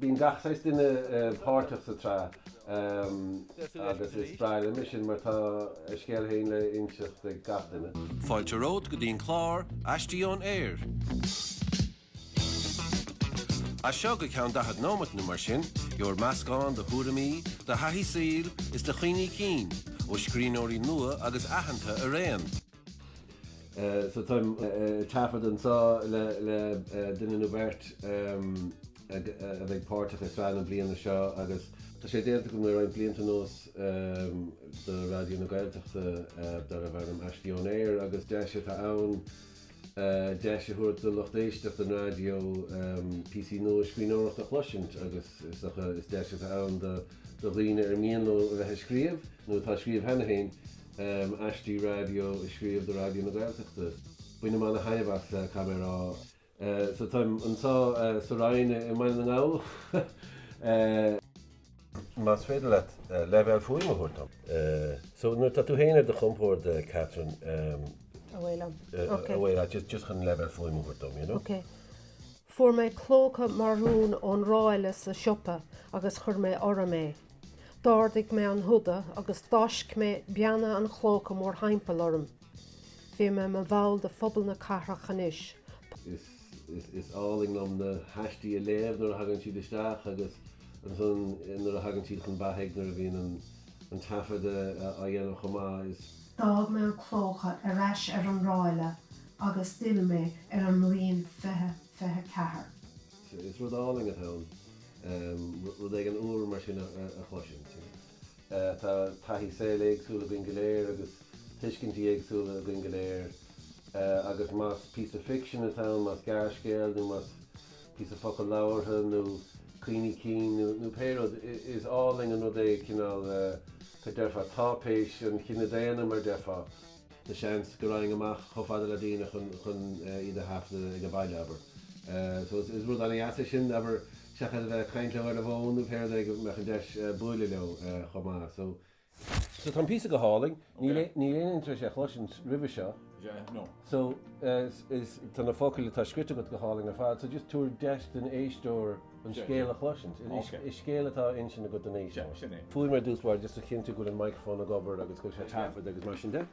Bíonn gach saghas duine páirteach sa tsraith agus is breá liom é sin mar tá a scéal féin le h-inseacht ag gach duine. Fáilte romhat go dtí an clár Aistí Ón Aer! As seo go ceann daichead nóimeat nó mar sin, gheobhair meascán de thuairimí, de thaithí saoil is de chuimhní cinn ó scríbhneoirí nua agus aitheanta araon. So táim ag taifeadadh anseo le duine nó beirt a bheidh páirteach i sraith na bliana seo agus tá sé déanta agam le roinnt blianta anuas do Raidió na Gaeltachta darbh ainm Aistí Ón Aer agus deis atá ann deis a thabhairt do lucht éisteachta an raidió píosaí nua scríbhneoireachta a chloisint agus is docha is deis atá ann do dhaoine ar mian leo a bheith ag scríobh nó atá ag scríobh cheana féin um, aistí raidió a scríobh do Raidió na Gaeltachta. Bainim ana thaitneamh as caithfidh mé a rá. Eh, so táim anso eh, sa Roinn i i mBaile na nGall. Eh, más féidir leat eh, leibhéal fuaime a thabhairt dom. eh, so nuair atá tú féin ar do chompord, eh, Catherine, em, Abhaile liom. eh, Ok. abhaile leat, just, just chun leibhéal fuaime a thabhairt dom, you know. Ok. Fuair mé clóca marún ón ráille sa siopa agus chuir mé orm é. D'ardaigh mé an húda agus d'fháisc mé beanna an chlóca mórthimpeall orm. Bhí mé i mo bhall de phobal na cathrach anois. Is, is, is álainn liom na haistí a léamh nuair a thagann siad isteach agus ansan nuair a thagann siad chun beathaigh, nuair a bhíonn an, an taifeadadh á dhéanamh chomh maith. Is. D'fhág mé an clóca ar ais ar an ráille agus d'fhill mé ar an mbliain fiche fiche a ceathair. Is rud álainn atá ann rud éigin úr mar sin a chloisint. Tá taithí saoil éagsúil againn go léir agus tuiscintí éagsúla againn go léir agus más píosa ficsin atá ann, más gearrscéal nó más píosa focal labhartha nó cuimhní cinn nó pé rud, is álainn an rud é cineál, deirfeá, táipéis an chine daonna, mar deirfeá. Tá seans go raghainn amach chomh fada le daoine chun chun iad a thaifeadadh ag an baile, abair. So is rud an-deas é sin, abair, seachas a bheith ag caint leo ar an bhfón nó pé rud é, go mbeadh an deis buaileadh leo chomh maith. So. So tá an píosa go hálainn, níl aoinne tar éis é a chloisint roimhe seo, so tá na focail atá scrite agat go hálainn ar fad, so just tabhair deis don éisteoir, an scéal a chloisint. Is scéal atá á insint agat don éisteoir. Faoi mar a dúrt ar dtús a chinntiú go bhfuil an micreafón ag obair agus go bhfuil sé ag taifeadadh agus mar sin de.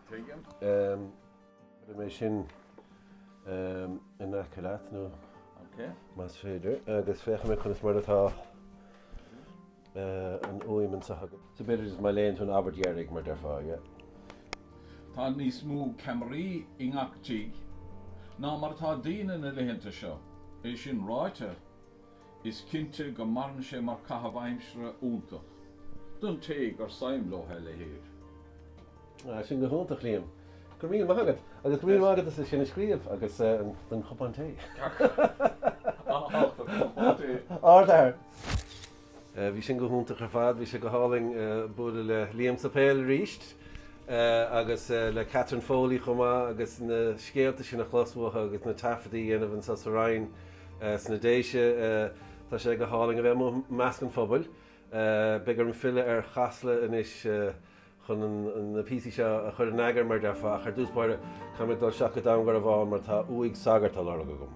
Chuirfidh mé sin in aice leat nó más féidir agus féachfaidh mé conas mar atá. an fhuaim anseo agam. So b'fhéidir má léann tú an abairt dheiridh, mar a déarfá, yeah. Tá níos mó ceamaraí i ngach tigh ná mar atá daoine na laethanta seo. É sin ráite, is cinnte go maireann sé mar chaitheamh aimsire iontach, don té gur suim leo a leithéid. Sin go hiontach, Liam. Go raibh míle maith agat. Agus go raibh míle maith agat as sin a scríobh agus don chupán tae. Ard-fhear. Bhí sin go hiontach ar fad. Bhí sé go hálainn bualadh le Liam sa Pheil arís agus le Catherine Foley chomh maith agus na scéalta sin a chlos uathu agus na taifeadaí a dhéanamh anso sa Rinn sna Déise. Tá sé go hálainn a bheith amuigh i measc an phobail. Beidh orm filleadh ar Chasla anois. chun na píosaí seo a chur in eagar, mar a déarfá, ach ar dtús báire, caithfidh mé dul isteach go Dún Garbhán mar tá uaigh sagart á lorg agam.